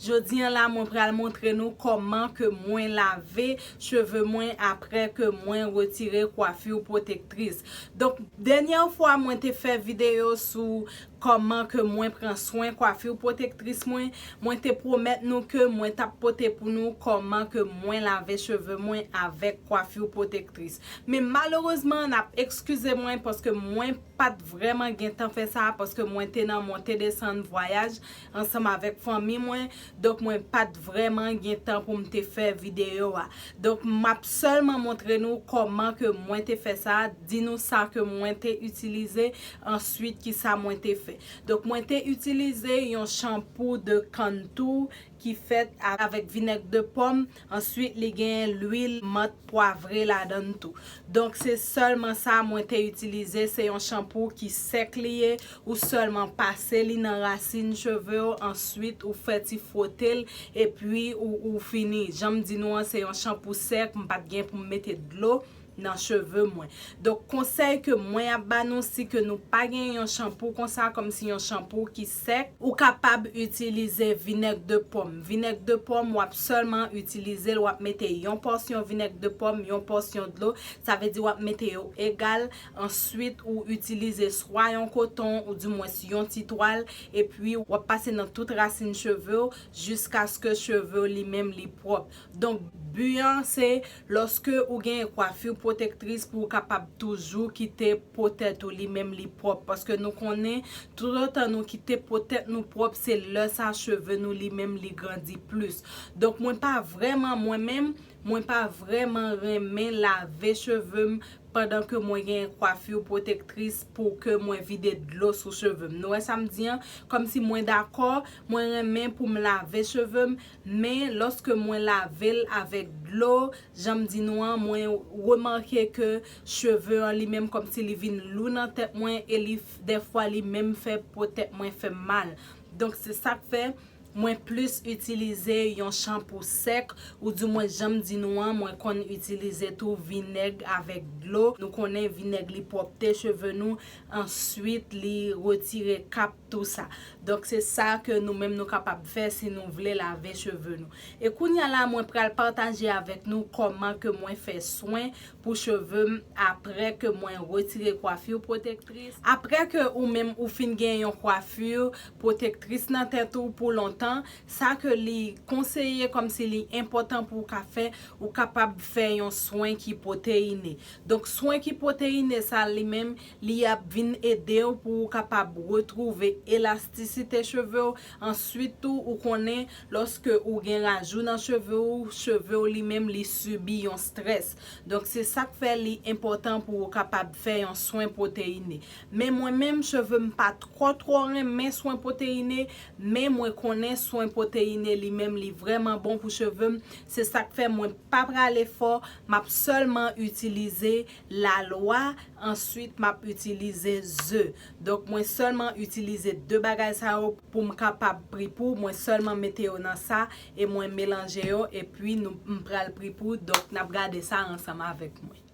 Jodi an la mwen pral montre nou kòman ke mwen lave cheve mwen aprè ke mwen retire coiffure protectrice. Donk dènyè fwa mwen te fè video sou kòman ke mwen pran swen coiffure protectrice mwen, mwen te pwomèt nou ke mwen tap pote pou nou kòman ke mwen lave cheve mwen avèk coiffure protectrice. Men malerezman nap ekskize mwen paske mwen pat vrèman gentan fè sa paske mwen te nan monte desann vwayaj, ansanm avèk fanmi mwen, donk mwen pat vrèman gen tan pou m te fè videyo a. Donk map sèlman montre nou kòman ke mwen te fè sa, di nou sa ke mwen te itilize, answit ki sa mwen te fè. Donk mwen te itilize yon chanpou de kann tou ki fèt avèk vinèg de pòm, Answit li gen lwil mant pwavre ladann tou. Donk se sèlman sa mwen te itilize, se yon chanpou ki sèk li ye, ou sèlman pase li nan rasin cheve w answit ou fè ti fwote l epi ou fini. Janm di nou an se yon chanpou sèk, m pat gen pou m mete dlo. nan cheve mwen donk konsèy ke mwen ap ba nou si ke nou pa gen yon chanpou konsa kòm si yon chanpou ki sèk ou kapab itilize vinèg de pòm vinèg de pòm wap sèlman itilizel wap mete yon pòsyon vinèg de pòm yon pòsyon dlo sa vle di wap mete yo egal answit ou itilize swa yon koton ou di mwens yon ti twal epwi wap pase nan tout rasin chevew jiskaske chevew li menm li pwòp Donk bi an se lòske ou gen kwafur pwotektris pou ou kapab toujou kite po tèt ou li menm li pwòp paske nou konnen toutotan nou kite po tèt nou pwòp se lè sa cheve nou li menm li grandi plis donk mwen pa vrèman mwen menm mwen pa vrèman renmen lave cheve m pandan ke mwen gen kwafur pwotektris pou ke mwen vide dlo sou cheve m nou wè sa m di an kòmsi mwen dakò mwen renmen pou m lave cheve m Men, lòske mwen lave l avèk dlo, jan m di nou an, mwen remake ke cheve an li menm kòmsi li vin lou nan tèt mwen e li dèfwa li menm fè po tèt mwen fè m mal. Donk se sa k fè mwen plis itilize yon chanpou sèk oudimwens jan m di nou an mwen konn itilize tou vinèg avèk dlo. Nou konnen vinèg li pwòpte cheve nou, answit li retire kap tout sa donk se sa ke nou menm nou kapab fè si nou vle lave cheve nou e kounya la mwen pral pataje avèk nou kòman ke mwen fè swen pou cheve m aprè ke mwen retire kwafur pwotektris aprè ke ou menm ou fin gen yon kwafur pwotektris nan tèt ou pou lontan sa ke li konseye kòm si li enpòtan pou ou ka fè ou kapab fè yon swen ki pwoteine donk swen ki pwoteine sa li menm Li ap vin ede w pou ou kapab retwouve elastisite cheve w, answit tou ou konnen lòske ou gen rajou nan cheve ou, cheve w li menm li sibi yon strès. Donk se sak fè li enpòtan pou ou kapab fè yon swen pwoteyine. Men mwen menm cheve m pa twò twò renmen swen pwoteyine, men mwen konnen swen pwoteyine li menm li vrèman bon pou cheve m, se sak fè mwen pa prale fò, map sèlman itilize la lwa answit map itilize ze donk mwen sèlman itilize 2 bagay sa yo poum kapab pripou mwen sèlman mete yo nan sa e mwen melanje yo epi nou m pral pripou donk nap gade sa ansanm avèk mwen.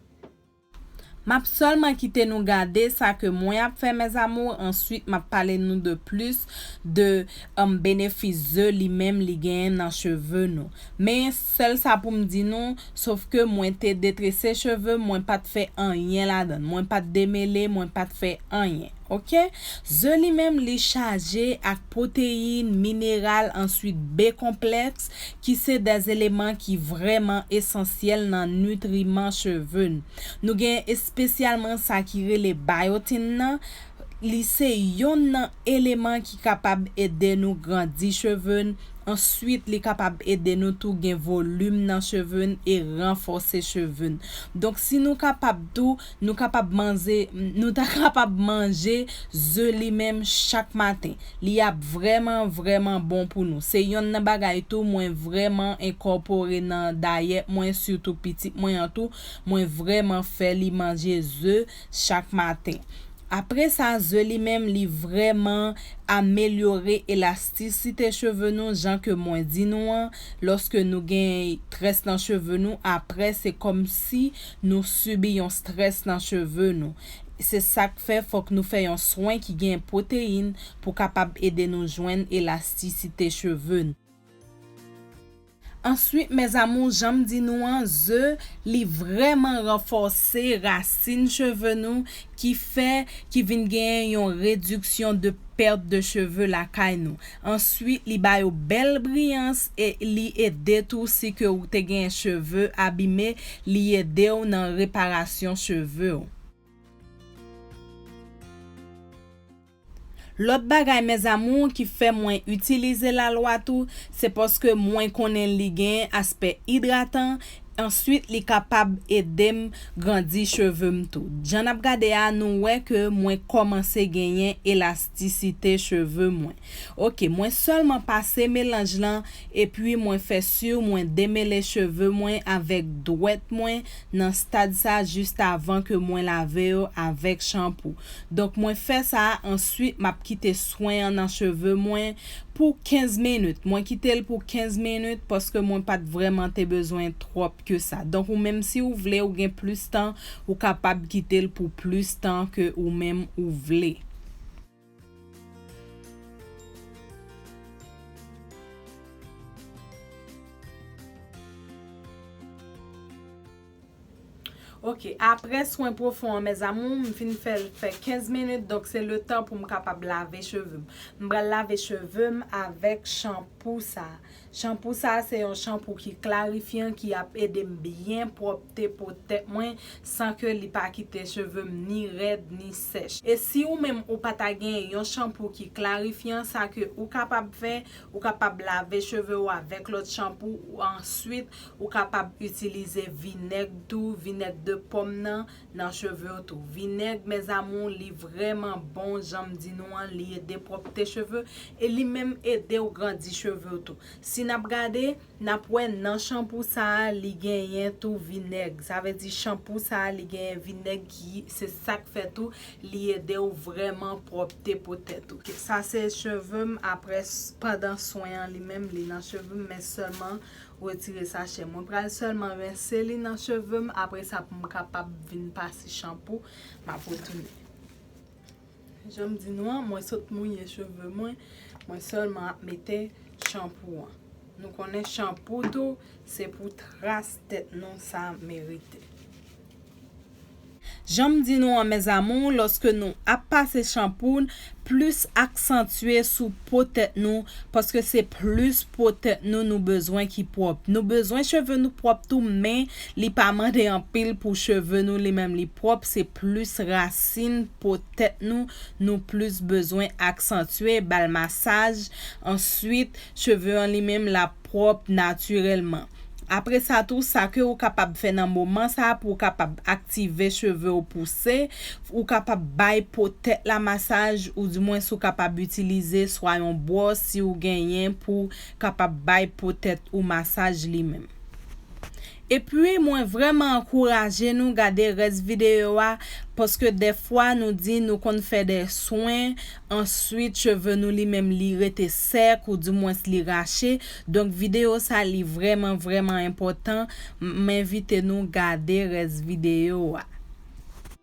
Map sèlman kite nou gade sa ke mwen ap fè mes amours answit map pale nou de plis de benefis ze li menm li genyen nan cheve nou men Sèl sa pou m di nou, sof ke mwen te detrese cheve m, mwen pa t fè anyen ladan l. Mwen pa t demele, mwen pa t fè anyen. Ok. Ze li menm, li chaje ak pwoteyin, mineral, answit B-konplèks, ki se de eleman ki vrèman esansyèl nan nitriman cheve n. Nou gen espesyalman sa ki rele bayotin nan, Li se yonn nan eleman ki kapab ede nou grandi cheve n, answit li kapab ede nou tou gen volim nan cheve n e ranfòse cheve n. Donk si nou kapab tou, nou kapab manze, nou ta kapab manje ze li menm chak maten. Li ap vrèman vrèman bon pou nou. Se yonn nan bagay tou mwen vrèman enkòpore nan dayèt mwen sitou pitit mwen an tou, mwen vrèman fè li manje ze, chak maten. Apre sa ze li menm li vrèman amelyore elastisite cheve nou jan ke mwen di nou an lòske nou gen très nan cheve nou aprè se kòmsi nou sibi yon stress nan cheve nou se sak fè fòk nou fè yon swen ki gen pwoteyin pou kapab ede nou jwenn elastisite cheve Answit mes amours janm di nou an ze li vrèman ranfòse rasin cheve nou ki fè ki vin genyen yon rediksyon de perte de cheve lakay nou answit li ba yo bèl briyans e li ede tou si ke ou te genyen cheve abime li edew nan reparasyon chevew. Lòt bagay mes amours ki fè mwen itilize lalwa tou se paske mwen konnen li gen aspè idratan answit li kapab edem grandi chevem tou jan nap gade a nou wè ke mwen kòmanse genyen elastisite cheve mwen ok mwen sèlman pase melanj lan epui mwen fè sur mwen demele cheve mwen avèk dwèt mwen nan stad sa just avan ke mwen lave yo avèk chanpou. Donk mwen fè sa answit map kite swen an nan cheve mwen pou 15 minit. Mwen kitel pou 15 minit paske mwen pat vrèman te bezwen twòp ke sa. Donk ou menm si ou vle ou gen plis tan ou kapab kitel pou plis tan ke ou menm ou vle. Ok aprè swen pwofon an mes amours m fin fèl fè 15 minutes donk se le tan poum kapab lave cheveux m. M pral lave cheveux m avèk shampoo sa. Chanpou sa se yon chanpou ki klarifyan ki ap edem byen pwòpte po tèt mwen san ke li pa kite chevem ni rèd ni sèch. E si ou menm ou pa ta genyen yon chanpou ki klarifyan sa ke ou kapab fè ou kapab lave cheve ou avèk lòt chanpou answit ou kapab itilize vinèg tou vinèg de pòm nan Nan chevew tou. Vinèg mes amour li vrèman bon janm di nou an li ede pwòpte cheve e li menm edew grandi chevew tou si nap gade nap wè nan chanpou sa li genyen tou vinèg sa vle di chanpou sa li genyen vinèg ki se sak fè tou li edew vrèman pwòpte po tèt ou. Sa se chevem apres pandan swen an li menm li nan chevem men selman Retire sachè. Mwen pral sèlman rense li nan cheve m apre sa pou m kapab vin pase chanpou m ap retounen. Jan m di nou an, mwen sot mouye cheve mwen, mwen sèlman ap mete chanpou an. Nou konnen chanpou tou se pou tras tèt nou sa merite. Janm di nou an mes amours loske nou ap pase chanpoun plis aksantye sou po tèt nou paske se plis po tèt nou nou bezwen ki pwòp nou bezwen cheve nou pwòp tou men li pa mande anpil pou cheve nou li menm li pwòp se plis rasin po tèt nou nou plis bezwen aksantye bal masaj answit cheve an li menm lap pwòp natirèlman. Apre sa tou, sa ke ou kapab fè nan moman sa a pou ou kapab aktive cheve ou pouse, ou kapab bay po tèt la masaj ou di mwens ou kapab itilize swa yon bwòs si ou genyen pou kapab bay po tèt ou masaj li menm. Epui mwen vrèman ankouraje nou gade rès video a paske dèfwa nou di nou konn fè dè swen answit cheve nou li menm li rete sèk ou di mwens li rache donk video sa li vrèman vrèman enpòtan m envite nou gade rès video a.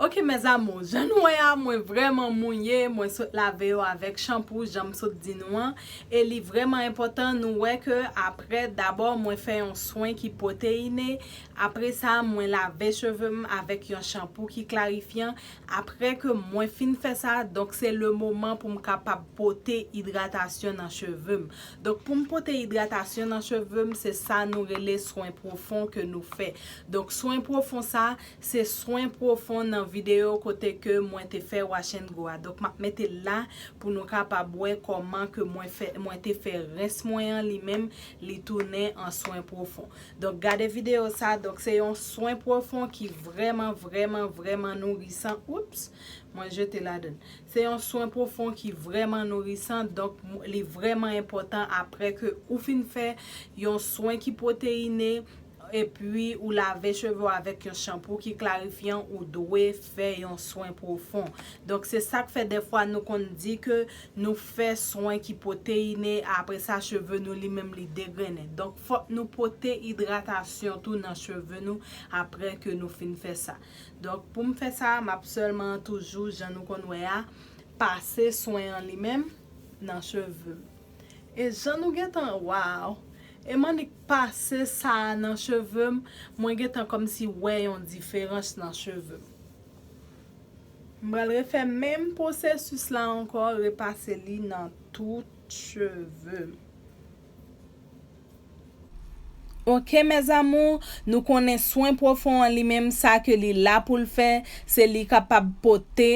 Ok mes amours jan nou wè a mwen vrèman mouye mwen sot lave yo avèk chanpou janm sot di nou an e li vrèman enpòtan nou wè ke aprè dabò mwen fè yon swen ki pwoteine apresa mwen lave cheve m avèk yon chanpou ki klarifyan aprè ke mwen fin fè sa donk se le moman pou m kapab pote idratasyon nan cheve m donk pou m pote idratasyon nan cheve m se sa nou rele swen pwofon ke nou fè Donk swen pwofon sa se swen pwofon nan video kote ke mwen te fè wash and go a donk map mete l la pou nou kapab wè kòman ke mwen fè mwen te fè rens mwen an li menm li tounen an swen pwofon donk gade video sa donk se yon swen pwofon ki vrèman vrèman vrèman nourisan oops mwen jete ladan l se yon swen pwofon ki vrèman nourisan donk li vrèman enpòtan aprè ke ou fin fè yon swen ki pwoteyine epi ou lave cheve w avèk yon chanpou ki klarifyan ou dwe fè yon swen pwofon donk se sak fè dèfwa nou konn di ke nou fè swen ki pwoteine apre sa cheve nou li menm li degrennen donk fòk nou pote idratasyon tou nan cheve nou apre ke nou fin fè sa donk pou m fè sa m ap sèlman toujou jan nou konn wè a pase swen an li menm nan cheve m. E jan nou gentan waww. E manik pase sa nan chevem mwen gentan komsi wè yon diferans nan chevem. M pral refè menm pwosesis la ankò repase li nan tout chevem. Ok mes amours, nou konnen swen pwofon an li menm sa ke li la poul fè, se li kapab pote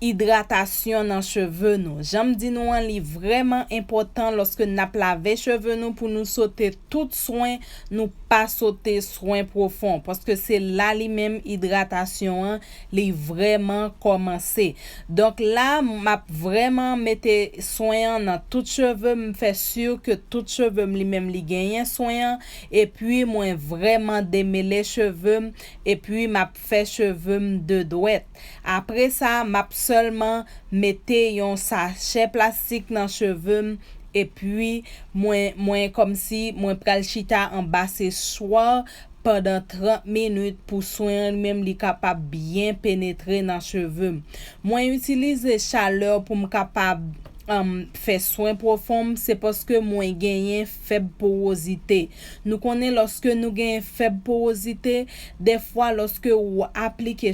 idratasyon nan cheve nou. Janm di nou an li vrèman enpotan loske nap lave cheve nou pou nou sote tout swen nou pa sote swen pwofon paske se la li menm idratasyon an Li vrèman kòmanse. Donk la m ap vrèman mete swen an nan tout cheve m fè sur ke tout cheve m li menm li genyen swen an epi mwen vrèman demele cheve m epi m ap fè cheve m de dwèt. Apre sa m ap sèlman mete yon sachè plastik nan cheve m epi mwen mwen kòmsi mwen pral chita anba sechwar pandan 30 minit pou swen an li menm li kapab byen penetre nan cheve m. Mwen itilize chalè pou m kapab fè swen pwofon m se paske mwen genyen fèb powozite. Nou konnen lòske nou genyen fèb powozite, dèfwa lòske ou aplike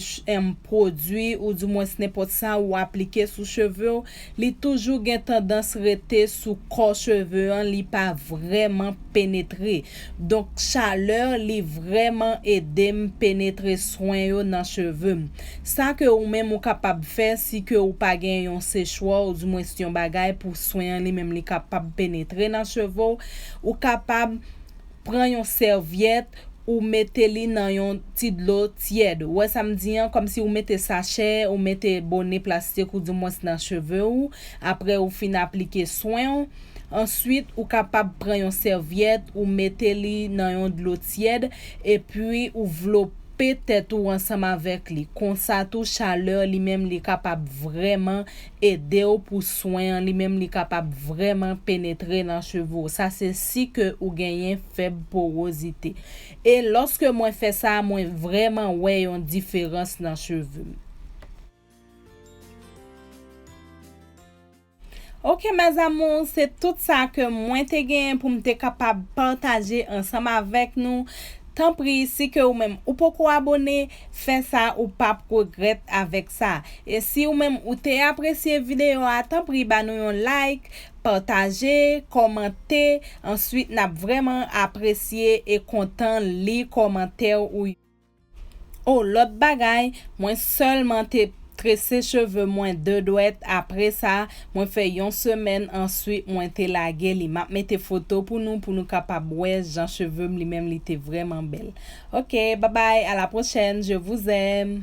pwodui ou di mwens nenpòt sa ou aplike sou cheve w, li toujou gen tandans rete sou kò cheve an li pa vrèman penetre. Donk chaleur li vrèman edem penetre swen yo nan chevem. Sa ke ou menm ou kapab fè si ke ou pa gen yon sechwa ou di mwens yon bagay pou swen an li menm li kapab penetre nan chevew, ou kapab pran yon sèvyèt ou mete li nan yon ti dlo tyèd. Ou wè sam di an? Kòmsi ou mete sachè ou mete bone plastik ou di mwens nan cheve ou apre ou fin aplike swenw. Answit ou kapab pran yon sèvyèt ou mete li nan yon dlo tyèd epi ou vlope tèt ou ansanm avèk li konsa tou chalè li menm li kapab vrèman edew pou swen an li menm li kapab vrèman penetre nan cheve w sa se si ke ou genyen fèb porozite e lòske mwen fè sa mwen vrèman wè yon diferans nan cheve m. Ok mes amours se tout sa ke mwen te genyen pou m te kapab pataje ansanm avèk nou tanpri si ke ou menm ou poko abone fè sa ou pap regrèt avèk sa e si ou menm ou te apresye video a tanpri ba nou yon like pataje kòmante answit nap vrèman apresye e kontan li kòmantè ou yo. Oh lòt bagay mwen sèlman te trese cheve mwen 2 dwèt apresa mwen fè yon semèn answit mwen te lage li map mete foto pou nou pou nou kapab wè jan chevem li menm li te vrèman bèl ok babay a la prochèn je vous aime.